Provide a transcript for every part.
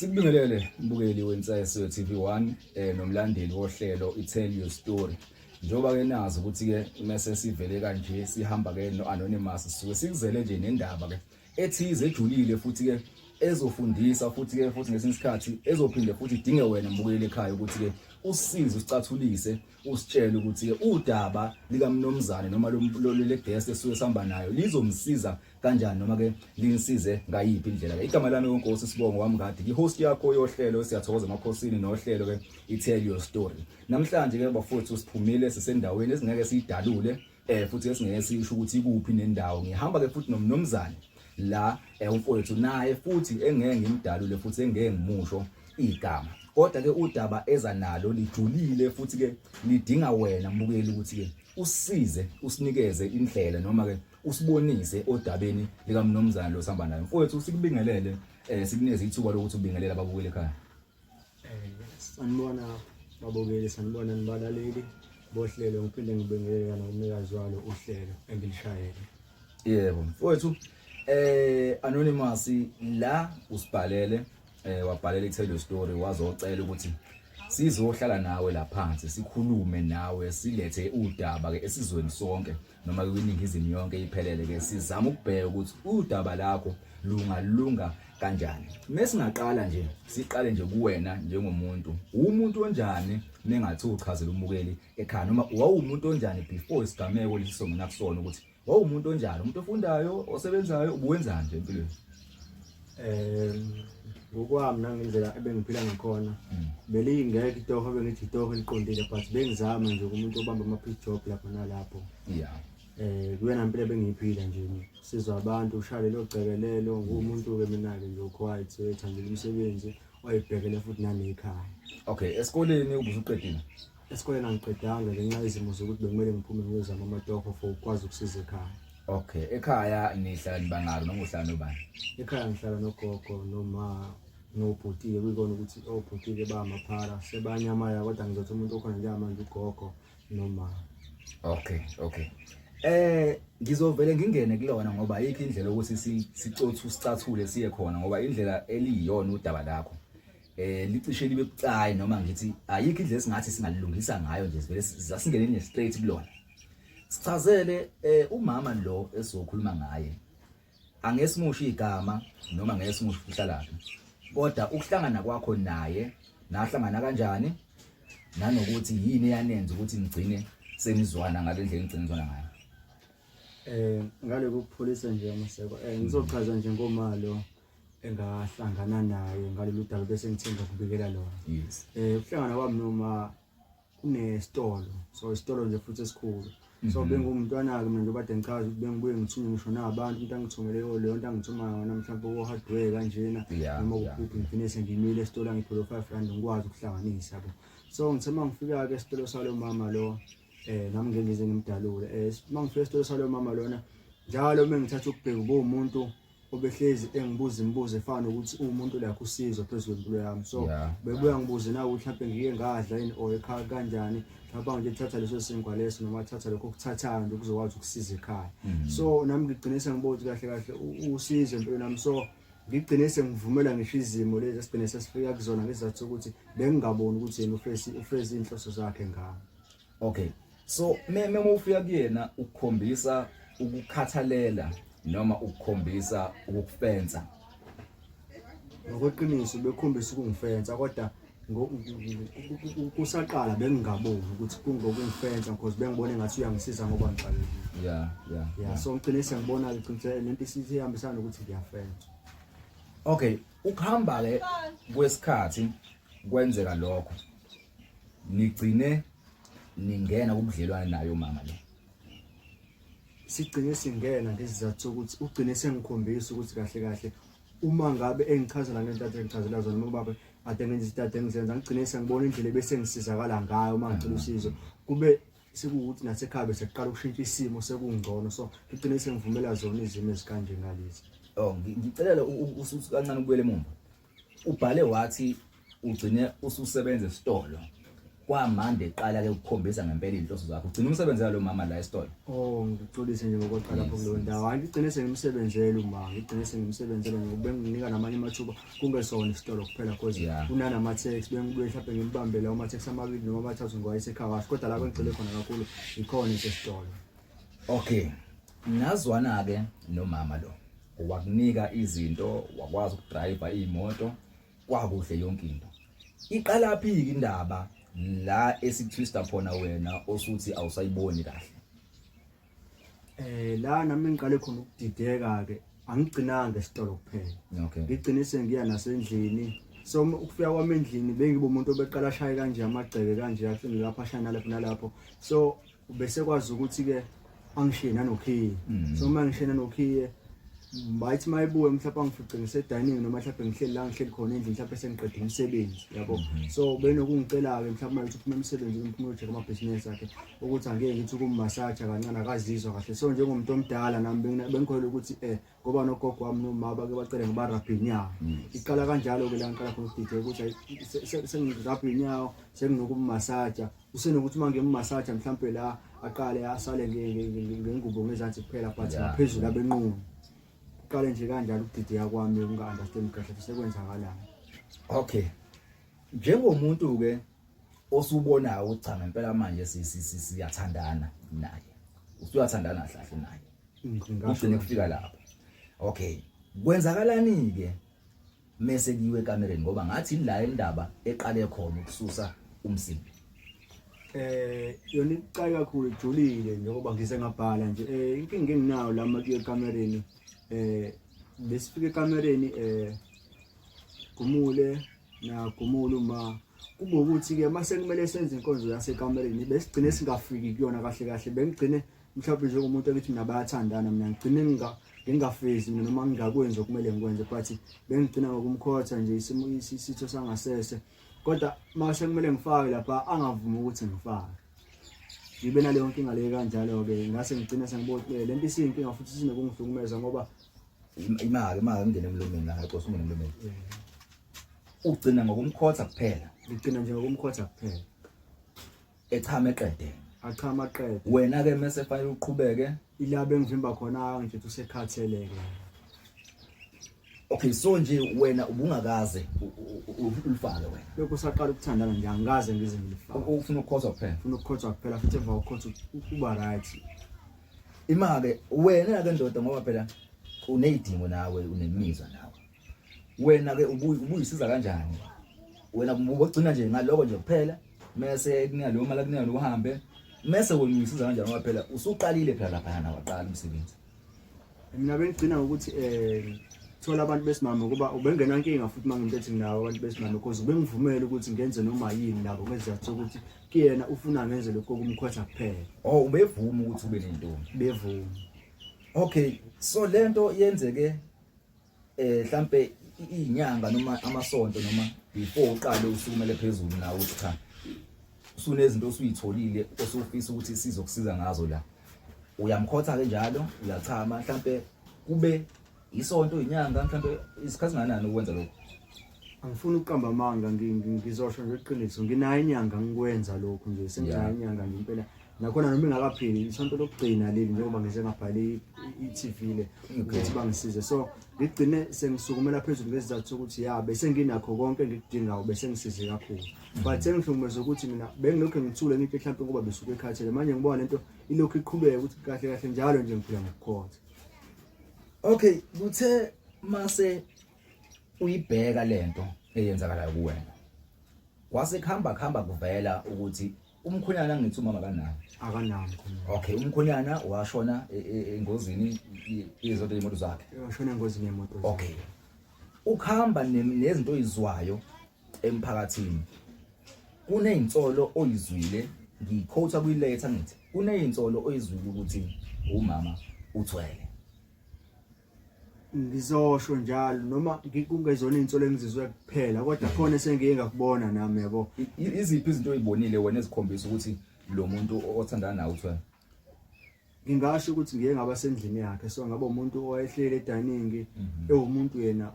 Sikubingelele mbukeli weNsayeswe TV1 eh nomlandeli wohlelo iTell Your Story. Njoba ke nazi ukuthi ke mase sivele kanje sihamba ke no anonymous sisuke sikuzele nje nendaba ke ethize ejulile futhi ke ezofundisa futhi ke futhi ngesinye isikhathi ezophinde futhi idinge wena mbukeli ekhaya ukuthi ke usize usicathulise usitshele ukuthi ke udaba likamnomzane noma lolele guest esuke sihamba nayo lizomsiza kanjani noma ke linisize ngayiphi indlela ke igama lami konkosi sibongo wami kade ki host yakho yohlelo siyathokoza emakhosini nohlelo ke i tell your story namhlanje ke bafowethu siphumile sisendaweni esingeke siyidalule eh futhi esingeke sisho ukuthi ikuphi nendawo ngihamba ke futhi nomnomzane la eh, umfowethu naye futhi engeke ngimdalule futhi engeke ngimusho igama kodwa ke udaba eza nalo lijulile futhi ke lidinga wena mbukeli ukuthi ke usize usinikeze indlela noma ke usibonise odabeni likamnomzana lo sihamba naye mfowethu sikubingelele eh sikuneze ithuba lokuthi ubingelele ababukeli ekhaya Sanibona babukeli, sanibona nibalaleli bohlelo, ngiphinde ngibingelela nomnikazi walo uhlelo engilishayele. Yebo mfowethu eh anonymous la usibhalele eh wabhalela i-tell story wazocela ukuthi sizohlala nawe la phansi sikhulume nawe silethe udaba ke esizweni sonke noma kwiningizimu yonke iphelele ke sizama ukubheka ukuthi udaba lakho lungalunga kanjani mesingaqala nje siqale nje kuwena njengomuntu umuntu onjani mengathi uchazela umukeli ekhaya noma wawumuntu onjani before isigameko lesisongena kusona ukuthi wawumuntu onjani umuntu ofundayo osebenzayo ubuwenzani nje empilweni um ngokwami nangendlela ebengiphila ngakhona mm. belingekho itoho bengithi itoho eliqondile but bengizama nje kumuntu obamba ama-pick job lapho nalapho ya um kuyena mpilo ebengiyiphila nje sizwa abantu ushale lelo gcekelelo nguwumuntu-ke mina-ke nje uquiet ethandela umsebenzi oyibhekele futhi nanekhaya okay esikoleni ubusuqedile Esikoleni angiqedanga ngenxa yezimo zokuthi bekumele ngiphume ngiyozama amatoho for ukwazi ukusiza ekhaya. Okay, ekhaya nihlala nibangaki noma uhlala nobani? Ekhaya ngihlala nogogo noma nobhutile kuyikona ukuthi obhutile bamaphara sebanyamaya kodwa ngizothi umuntu okhona njengamanje ugogo noma. Okay, okay. Eh ngizovele ngingene kulona ngoba ayikho indlela ukuthi sicothu sicathule siye khona ngoba indlela eliyiyona udaba lakho. eh licishe libe bucayi noma ngithi ayikho indlela esingathi singalilungisa ngayo nje sivele sasingene nje straight kulona sichazele eh umama lo esizokhuluma ngaye angesimushi igama noma ngeke simusho ukuhlalaphi kodwa ukuhlangana kwakho naye nahlangana kanjani nanokuthi yini eyanenza ukuthi nigcine senizwana ngale ndlela enigcine nizwana ngayo eh ngale kokupholisa nje amaseko eh ngizochaza nje ngomalo engahlangana naye ngalolu daba bese ngithenga kubikela lona yes eh ukuhlangana kwami noma kunesitolo so isitolo nje futhi esikhulu so mhm. bengumntwana-ke mina njengoba de ngichaza ukuthi bengibuye ngithume ngisho nabantu into angithumele oh, leyo nto angithumayo ngona mhlawumbe ko-hardware kanjena noma kuphuphi ngigcine sengimile esitolo angithole five rand ngikwazi ukuhlanganisa bo so ngithe uma ngifika-ke esitolo salo mama lo um nami ngengize ngimdalule um uma ngifika esitolo salo mama lona njalo uma ngithatha ukubheka ubuwumuntu obehlezi engibuza imibuzo efana nokuthi uwumuntu lakho usizo phezu kwempilo yami so Yeah. bebuya ngibuze nawe ukuthi mhlawumbe ngike ngadla yini or ekhaya kanjani mhlawumbe nje thatha leso sinkwa leso noma thatha lokho okuthathayo nje kuzokwazi ukusiza ekhaya Mm-hmm. so nami ngigcine sengibona ukuthi kahle kahle u- usizo empilweni yami so ngigcine sengivumela ngisho izimo lezi esigcine sesifika kuzona ngezathu sokuthi bengingaboni ukuthi yena ufesi ufesi inhloso zakhe ngami okay so meme ufika kuyena ukukhombisa ukukhathalela noma ukukhombisa ukukufensa ngokweqiniso bekhombisa ukungifensa kodwa kusaqala bengingaboni ukuthi kungokungifensa because bengibona engathi uyangisiza ngoba ngiqalile yeah yeah yeah so ngigcine sengibona ke qinisele lento isihambisana ukuthi ngiyafensa okay ukuhamba ke kwesikhathi kwenzeka lokho nigcine ningena kubudlelwane nayo mama le sigcine singena ngesizathu sokuthi ugcine sengikhombisa ukuthi kahle kahle uma ngabe engichazela ngento ade ngichazela zona uma ubaba ade ngenza izinto ade ngizenza ngigcine sengibona indlela ebese ngisizakala ngayo uma ngicela usizo kube sekuwukuthi nasekhaya bese kuqala ukushintsha isimo sekungcono so ngigcine sengivumela zona izimo ezikanje ngalezi oh ngicelela usuthi kancane ubuyele emuva Ubhale wathi ugcine ususebenza esitolo kwamanje eqala ke ukukhombisa ngempela izinhloso zakho ugcina umsebenzi walo mama la esitolo oh ngixolise nje ngokuqala lapho kulo ndawo hayi ngigcine sengimsebenzela uma ngigcine sengimsebenzela ngoba benginika namanye amathuba kungesona isitolo kuphela cause unana ama tax bengibuye mhlawumbe ngimbambela uma tax amabili noma amathathu ngoba isekhaya kodwa lapho ngigcile khona kakhulu ikhona isitolo okay Ngazwana-ke nomama lo wakunika izinto wakwazi ukudrayiva iy'moto kwakuhle yonke into iqalaphi-ke indaba la esitwista khona wena osuthi awusayiboni kahle eh la nami ngiqale khona ukudideka-ke angigcinanga esitolo kuphela okay. ngigcine sengiya nasendlini so ukufika kwami endlini bengibe umuntu obeqala ashaye kanje amagceke kanje ahlini lapho ashaye nalapho nalapho so Ubese kwazi ukuthi ke angishiye nanokhiye. Mm. So uma ngishiye nanokhiye bayithi mayibuye mhlawumbe angifice ngise dining noma mhlawumbe ngihleli la ngihleli khona endlini mhlawumbe sengiqede umsebenzi yabo mm-hmm. so benokungicela ke mhlawumbe mayithi uphuma umsebenzi ngimphuma ujeje ama business akhe ukuthi angeke ngithi ukummassage kancane akazizwa kahle so njengomuntu omdala nami bengikholwa ukuthi eh ngoba nogogo wami nomama bake bacele ngiba rabhe inyawo mm. iqala kanjalo-ke la ngiqala khona ukudideka ukuthi sengirabhe inyawo senginokummasaja usenokuthi uma ngimmasaja mhlawumpe la aqale asale ngengubo ngezansi kuphela but ngaphezulu abenqunu kuqale nje kanjalo ukudideka kwami ukunga-understand kahle sekwenzakalayo okay njengomuntu-ke osubonayo ukuthi cha ngempela manje siyathandana naye usuyathandana kahle naye ngigcine kufika lapho okay kwenzakalani ke mese kiwe kamereni ngoba ngathi la indaba eqale khona ukususa umsimbi eh yona icayi kakhulu ijulile njengoba ngise ngabhala nje eh inkinga enginayo la makiyo ekamereni eh besifike ekamereni eh gumule na gumule uma kube ukuthi ke mase kumele senze inkonzo yasekamereni besigcine singafiki kuyona kahle kahle bengigcine mhlawumbe njengomuntu okithi mina bayathandana mina ngigcine ngingafezi mina noma ngingakwenzi okumele ngikwenze but bengigcina ngokumkhotha nje isimo isitho sangasese kodwa uma sekumele ngifake lapha angavumi ukuthi ngifake ngibe naleyo nkinga leyo kanjalo-ke ngase ngigcine sengibotile le nto isiyinkinga futhi sinokungihlukumeza ngoba imake imake ngingene emlomeni la ngaqosa ungene emlomeni ugcina ngokumkhotha kuphela ngigcina nje ngokumkhotha kuphela echame qede achama qede wena ke mase fanele uqhubeke ilabe ngivimba khona nje usekhathele ke Okay so nje wena ubungakaze ulifake wena. Lokho usaqala ukuthandana nje angikaze ngize ngilifake. Ufuna ukukhotha kuphela. Ufuna ukukhotha kuphela futhi emva kokukhotha uba right. Imake wena ke ndoda ngoba phela unezidingo nawe unemizwa nawe. wena ke ubuyisiza kanjani wena ubogcina nje ngaloko nje kuphela mese kunika leyo mali akunika uhambe mese wena uyisiza kanjani ngoba phela usuqalile phela lapha na waqala umsebenzi mina bengigcina ukuthi eh thola abantu besimame ukuba ubengenankinga futhi mangimuntu ethi nginawo abantu besimame because ubengivumele ukuthi ngenze noma yini nabo ngezizathu sokuthi kuyena ufuna ngenze lokho kumkhwetha kuphela oh ubevuma ukuthi ube nentombi bevuma okay so lento yenzeke eh mhlambe izinyanga noma amasonto noma before uqale usukumele phezulu nawe uthi cha usunezinto osuyitholile osufisa ukuthi sizokusiza ngazo la uyamkhotha ke njalo uyachama mhlambe kube isonto inyanga mhlambe isikhathi nganani ukwenza lokho angifuni ukuqamba amanga ngizosho nje iqiniso nginayo inyanga ngikwenza lokho nje senginayo inyanga ngimpela nakhona noma ingakapheli isonto lokugcina leli njengoba ngize ngabhale i-TV le ukuthi bangisize so ngigcine sengisukumela phezulu ngezizathu sokuthi ya bese nginakho konke engikudingayo bese ngisize kakhulu but engihlukumeza ukuthi mina bengilokhu ngithule ngithi mhlawumbe ngoba besuke ekhathele manje ngibona lento ilokhu iqhubeka ukuthi kahle kahle njalo nje ngiphila ngokukhotha okay kuthe mase uyibheka lento eyenzakalayo kuwena kwase kuhamba kuhamba kuvela ukuthi umkhonyana ngithi umama kanawo akanawo umkhonyana okay umkhonyana washona e, e, engozini izoto yemoto zakhe washona engozini yemoto okay ukhamba nezinto oyizwayo emphakathini kunezinsolo oyizwile ngikhotha kuyiletha ngithi kunezinsolo oyizwile ukuthi umama uthwele ngizosho njalo noma kungezona izinsolo engizizwe kuphela kodwa khona esengiye ngakubona nami yabo iziphi izinto oyibonile wena ezikhombisa ukuthi lo muntu othandana nawe uthiwa ngingasho ukuthi ngiye ngaba sendlini yakhe so ngaba umuntu owayehleli edaningi mhm. ewumuntu yena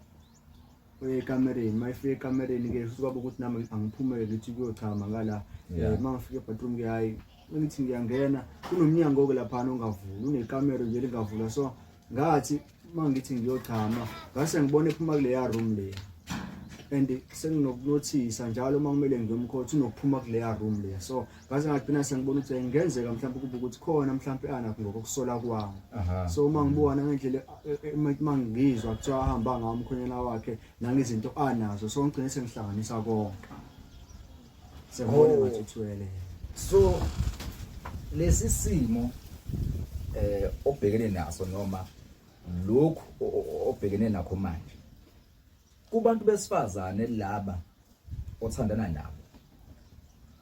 uye ekamereni uma efika ekamereni ke futhi kwaba ukuthi nami angiphumele ngithi kuyochama ngala Yeah. uma ngifika ebadroom ke hayi ngithi ngiyangena kunomnyango-ke laphana ongavuli unekamero nje lingavula so ngathi uma ngithi ngiyochama ngase ngibona ephuma kuleya room leya and senginokunothisa njalo uma kumele ngiyomkhothi unokuphuma kuleya room leya so ngaze ngagcina sengibona ukuthi engenzeka mhlawumbe kube ukuthi khona mhlawumbe anakho ngokusola kwami so uma ngibona ngendlela e, e, uma ngizwa kuthiwa ahamba ngawo umkhonyana wakhe nangezinto anazo so ngigcine sengihlanganisa konke sengibona oh. ngathi uthwele so lesi simo eh obhekene naso noma lokhu obhekene nakho manje Kubantu besifazane laba othandana nabo.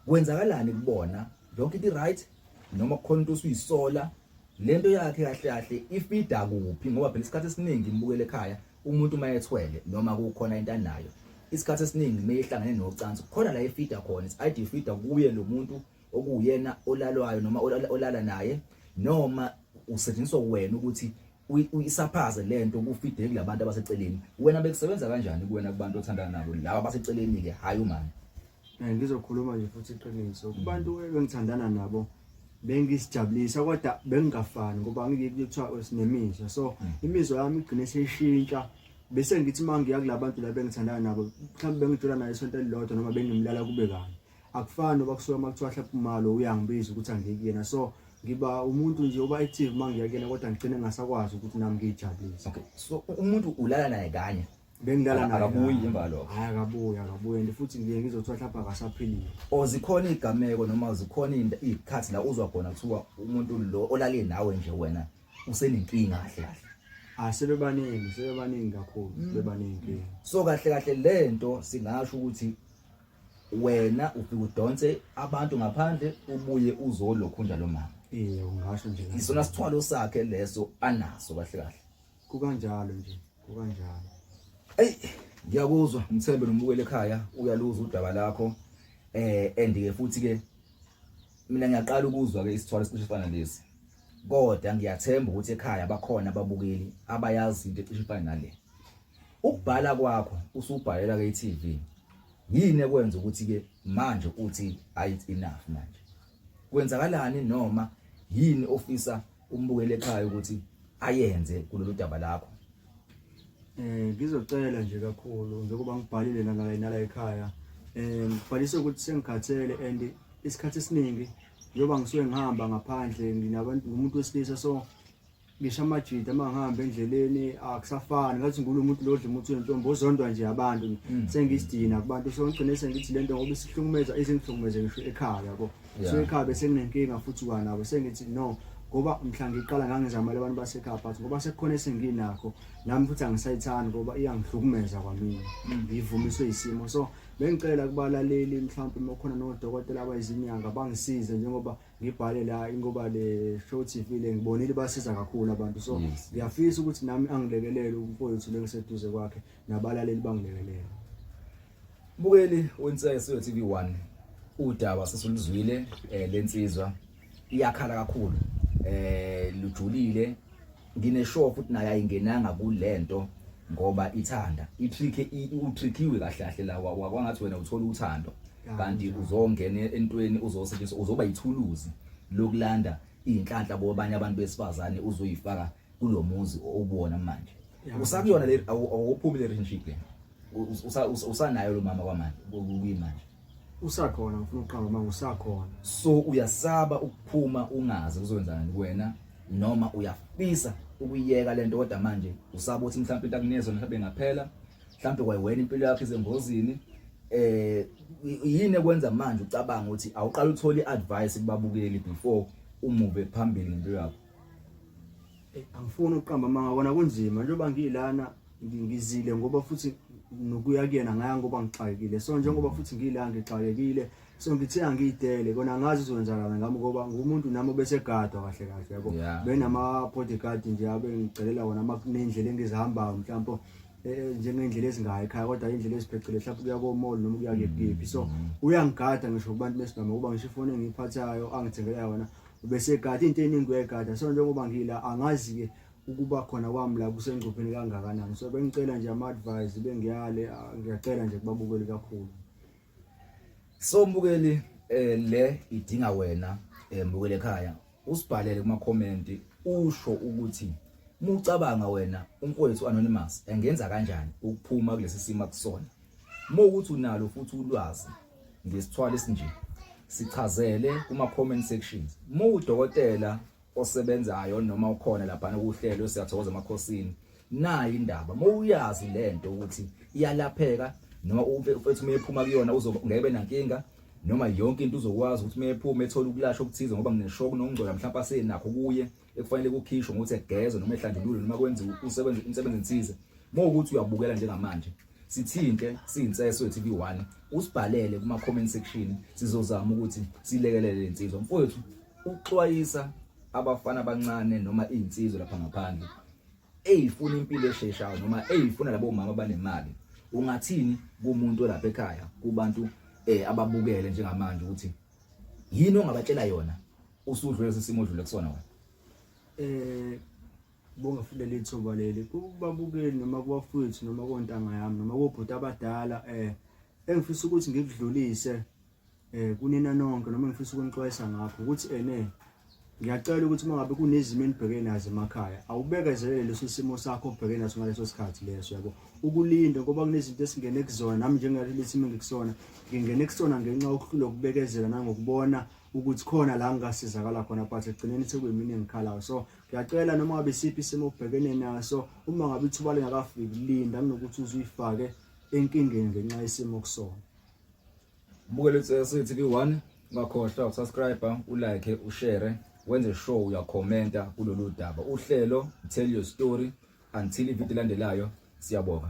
Kwenzakalani kubona? Yonke into right noma kukhona into osuyisola lento yakhe kahle kahle ifida kuphi ngoba phela isikhathi esiningi imbukele ekhaya umuntu uma ethwele noma kukhona into anayo isikhathi esiningi meyihlangene nocansi khona la ifida khona is id fida kuye lo muntu okuyena olalwayo noma olala naye noma usetshenziswa wena ukuthi uyisaphaze lento kufide kulabantu abaseceleni wena bekusebenza kanjani kuwena kubantu othandana nabo laba abaseceleni ke hayi umani eh, ngizokhuluma nje futhi iqiniso kubantu engithandana nabo bengisijabulisa kodwa bengingafani ngoba ngikuthiwa sinemizwa so hmm. imizwa yami igcine seyishintsha bese ngithi uma ngiya kulabantu la bengithandana nabo mhlawumbe bengithola naye isonto elilodwa noma bengimlala kube kanye akufani noba kusuka uma kuthiwa hlapha umalo uyangibiza ukuthi angiye kuyena so ngiba umuntu nje uba active uma ngiya kuyena kodwa ngigcine ngasakwazi ukuthi nami ngiyijabulise okay so umuntu ulala naye kanye bengilala naye akabuyi emva lokho hayi akabuyi akabuyi and futhi ngiye ngizothiwa hlapha akasaphilile o zikhona igameko noma zikhona izikhathi la uzwa khona kuthiwa umuntu lo olale nawe nje wena usenenkinga kahle kahle Ah sebebaningi sebebaningi kakhulu mm. sebebaningi so kahle kahle lento singasho ukuthi wena ufike udonse abantu ngaphandle ubuye uzolokhunja lo mama eh ungasho nje isona sithwalo sakhe leso anaso kahle kahle kukanjalo nje kukanjalo ey ngiyakuzwa mthembe nomukele ekhaya uyaluza udaba lakho eh andike futhi ke mina ngiyaqala ukuzwa ke isithwalo esicishe fana lesi kodwa ngiyathemba ukuthi ekhaya bakhona ababukeli abayazi into ecishe fana nale Ukubhala kwakho usubhalela ke iTV. Yini ekwenza ukuthi ke manje uthi ayi enough manje. Kwenzakalani noma yini ofisa umbukele ekhaya ukuthi ayenze kulolu daba lakho? Eh ngizocela nje kakhulu njengoba ngibhalile nala nala ekhaya. Eh ngibhalise ukuthi sengikhathele and isikhathi esiningi njengoba ngisuke ngihamba ngaphandle nginabantu umuntu wesilisa so ngisho amajita uma ngihamba endleleni akusafani ngathi ngulo muntu lodla umuntu wentombi ozondwa nje abantu mm. sengisidina kubantu so ngigcine sengithi lento ngoba isihlukumeza izingihlukumeze ngisho ekhaya yabo so ekhaya bese nginenkinga futhi kwanabo sengithi no ngoba mhla ngiqala ngangizamela abantu basekhaya but ngoba sekukhona esenginakho nami futhi angisayithandi ngoba iyangihlukumeza kwamina mm. ngivumiswe isimo so bengicela kubalaleli mhlawumbe uma khona nodokotela abayizinyanga bangisize njengoba ngibhale la ingoba le show TV le ngibonile basiza kakhulu abantu so ngiyafisa ukuthi nami angilekelele umfowethu lengiseduze kwakhe nabalaleli bangilekelele bukeli wensese TV 1 udaba sesiluzwile eh, lensizwa iyakhala kakhulu eh lujulile Ngineshow futhi naye ayingenanga kulento ngoba ithanda itrick utrickiwe kahle kahle la wakwangathi wena uthola uthando kanti uzongena entweni uzosetshenziswa uzoba yithuluzi lokulanda izinhlanhla kwabanye abantu besifazane uzoyifaka kulomuzi obona manje usakuyona le awuphumi le relationship le usanayo lo mama kwamanje kuyimanje usakhona ngifuna ukuqamba uma ngusakhona so uyasaba ukuphuma ungazi kuzokwenzani kuwena noma uyafisa ukuyeka lento kodwa manje usaba ukuthi mhlawumbe into akunezo mhlawumbe ngaphela mhlawumbe kwayiwena impilo yakho izengozini eh yini ekwenza manje ucabanga ukuthi awuqala uthole advice kubabukeli before umuve phambili ngempilo yakho angifuni ukuqamba manga kona kunzima njengoba ngiyilana ngizile ngoba futhi nokuya kuyena ngaya ngoba ngixakekile so njengoba futhi ngila ngixakekile so ngithe angiyidele kona ngazi uzokwenzakala ngami ngoba ngumuntu nami obesegadwa kahle kahle yabo benama bodyguard nje abe ngicelela wona nendlela engizihambayo mhlawumbe Eh, njengendlela ezingayo ekhaya kodwa indlela eziphecile mhlawumbe kuya komall noma kuya kephi so uyangigada ngisho kubantu besigama kuba ngisho ifoni engiyiphathayo angithengela yona ubesegada into eningi uyayigada so njengoba ngila angazi-ke ukuba khona kwami la kusengcupheni kangakanani so bengicela nje ama-advise bengiyale ah, ngiyacela nje kubabukeli kakhulu so mbukeli um le idinga wena um mbukeli ekhaya usibhalele kumakhomenti usho ukuthi mucabanga wena umfowethu anonymous engenza kanjani ukuphuma kulesi simo akusona uma ukuthi unalo futhi ulwazi ngesithwalo esinje sichazele kuma comment sections uma udokotela osebenzayo noma ukhona laphana kuhlelo siyathokoza emakhosini nayi indaba mawuyazi lento ukuthi iyalapheka noma ufethu meyephuma kuyona uzongebe nankinga noma yonke into uzokwazi ukuthi meyephuma ethola ukulashwa okuthize ngoba ngineshoku nokungcola mhlawumbe asenakho kuye ekufanele kukhishwe ngokuthi egezwe noma ehlanjululwe noma kwenziwe umsebenzi umsebenzi enthize mawukuthi uyabukela njengamanje sithinte siyinsese wethu bi1 usibhalele kuma comment section sizozama ukuthi silekelele lensizwa mfowethu Ukuxwayisa abafana abancane noma iy'nsizwa lapha ngaphandle eyifuna impilo esheshayo noma eyifuna labo mama banemali ungathini kumuntu olapha ekhaya kubantu eh ababukele njengamanje ukuthi yini ongabatshela yona usudlule lesimo odlule kusona wena eh bonga futhi lethuba leli kubabukeli noma kubafowethu noma kontanga yami noma kobhuti abadala eh engifisa ukuthi ngikudlulise eh kunina nonke noma ngifisa ukunixwayisa ngakho ukuthi ene eh, ngiyacela ukuthi uma ngabe kunezimo enibhekene nazo emakhaya awubekezelele leso simo sakho obhekene naso ngaleso sikhathi leso yabo ukulinde ngoba kunezinto esingene kuzona nami njengaleli simo engikusona ngingene kusona ngenxa yokuhlula ukubekezela nangokubona ukuthi khona la ngingasizakala khona but ekugcineni sekuyimini engikhalayo so ngiyacela noma ngabe siphi isimo obhekene naso uma ngabe ithuba lingakafiki linda kunokuthi uzuyifake enkingeni ngenxa yesimo kusona ubukele utsesithi kwi-one ungakhohlwa ukusubscribe ulike ushare wenze sure uyakhomenta kulolu daba uhlelo tell your story until ividiyo elandelayo siyabonga